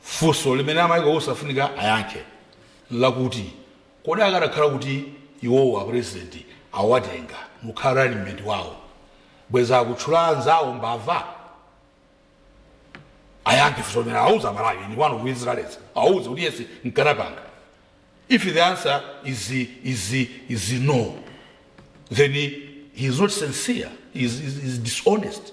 funso limene a Michael Usi afunika ayankhe lakuti kodi akadakhala kuti iwowo apurezidenti awatenga mukhala running mate wawo bweza akutchula anzawo mbava ayankhe funso limene awauze malawi nipo onse otherwise awauze kuti yes nkanapanga if the answer is, is, is no then he is not sincere he is, is, is dishonest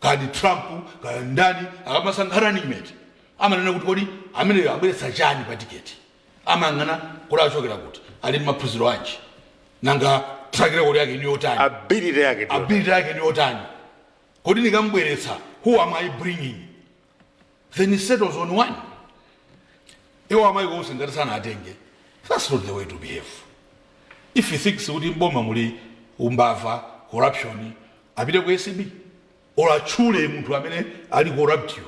kaya ndi trump kaya ndani akamasankha running mate amanena kuti kodi ameneyo abweretsa chani pa tiketi amayang'ana kuti akuchokera kuti ali ndi maphunziro anji nanga track record yake ndi yotani ability yake ndi yotani kodi nikamubweretsa who am i bringing then he settles on one iwo a Michael Usi ngati sanawatenge that's not the way to behave if he thinks kuti mboma muli umbava corruption apite ku acb or achule munthu amene ali corruptiyo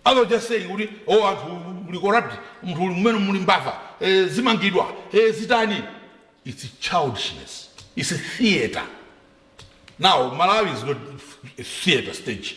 rather just saying kuti oh anthu ali corrupt munthu uli mmene muli mbava eh, zimangidwa eh, zitani it's childishness it's a theater now malawi is not a theater stage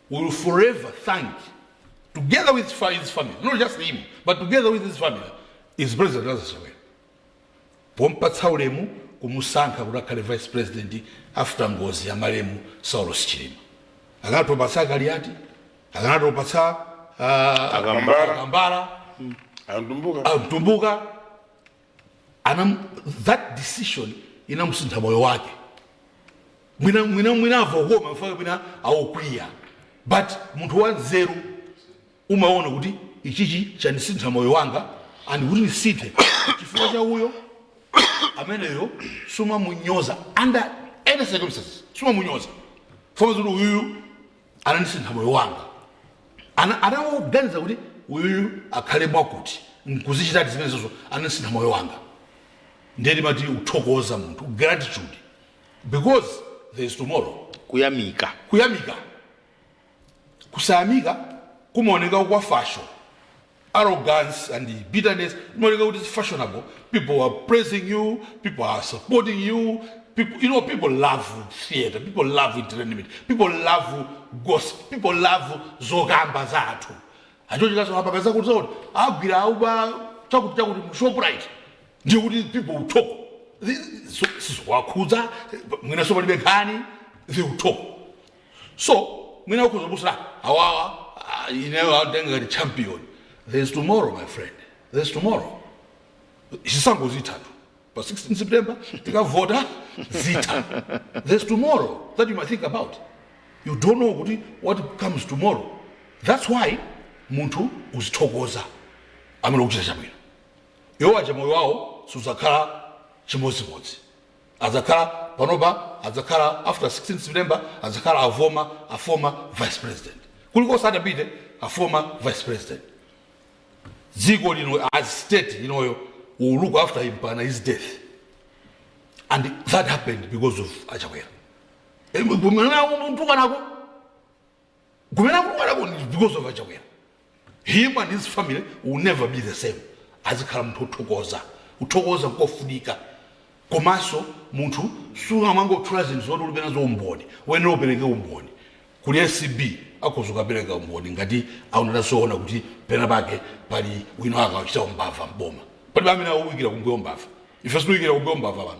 He will forever thank, together with his family, not just him, but together with his family, is President Lazarus Chakwera. Pompatsa ulemu kumusankha kuti akhale vice president after ngozi ya malemu Saulos Chilima. Akanatha kupatsa a Kaliati, akanatha kupatsa uh, Akambala. Akambala, Amtumbuka. Mtumbuka, anam, that decision inamusintha moyo wake mwina mwina mwina avokoma mfaka mwina awokwiya but munthu wanzeru umaona kuti ichichi chanisintha moyo wanga and kuti ndisinthe chifukwa cha uyo ameneyo sumamunyoza under any circumstances sumamunyoza poona zoti uyuyu anandisintha moyo wanga Ana- anaganiza kuti uyuyu akhale mwakuti nkuzichitadi zimenezozo anandisintha moyo wanga ndiye timati uthokoza munthu gratitude because there is tomorrow kuyamika kuyamika kusayamika kumaoneka kwa fasho arrogance and bitterness imaoneka kuti is fashionable people are praising you people are supporting you people, you know people love theater people love entertainment people love gossip people love zokamba za anthu achochikaso apa pezeka zoti akuti agwira auba chakuti chakuti mu shoprite ndiye kuti people will talk sizowakhudza mwinaso palibe nkhani they will talk so mwina ukhoza kusala awawa ah, ineyo atenga ngati champion there is tomorrow my friend there is tomorrow zisankho zithatu pa 16 september tikavota zitha there is tomorrow that you might think about you don't know kuti what comes tomorrow that's why munthu uzithokoza amene akuchita chabwino iwo aja moyo wawo sudzakhala chimodzimodzi Adzakhala, panopa adzakhala after 16 September adzakhala a former, a former vice president. Kulikonse atapite, a former vice president. Dziko lino as state ineyo will look after him mpaka his death. And that happened because of a Chakwera. Mwana umuntu kanako. kumene akumalako ndi because of achakwera him and his family will never be the same azikhala munthu othokoza kuthokoza nkofunika komanso munthu sungamangotchula zinthu zoti ulibe nazo umboni wayenera apereke umboni kuli acb akhoza kukapereka umboni ngati akunena zoona kuti pena pake pali wina akachita umbava mboma palibe amene awuikira kumbuyo mbava ife sitiikira kumbuyo mbava pano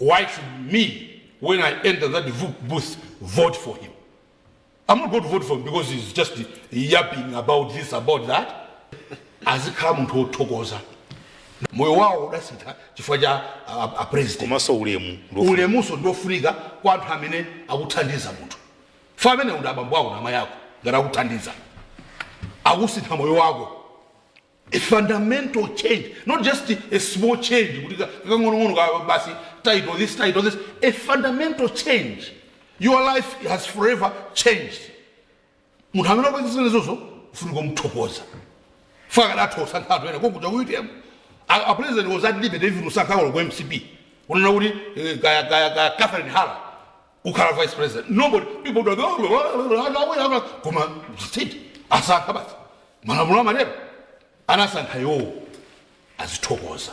why should me when i enter that booth vote for him I'm not going to vote for him because he's just yapping about this about that azikhala munthu wothokoza moyo wawo udasintha chifukwa cha a, a president komanso ulemu ndo- ulemuso ndiofunika kwa anthu amene akuthandiza munthu faka amene ndi abambo ako na amayi ako ngati akuthandiza akusintha moyo wako a fundamental change not just a small change kuti ka- kakang'onong'ono basi title this title this is a fundamental change your life has forever changed munthu amene wakupatsa zimenezozo ufunika kumthokoza faka akadatha usankha anthu ena kokuta kuitemu apresident was at liberty even usankha olo ku mcp unena kuti eh, kaya kaya kaya catherine hara kukhala vice president nobody people don't vote koma ziti akasankha basi malamulo amatero anasankha iwowo azithokoza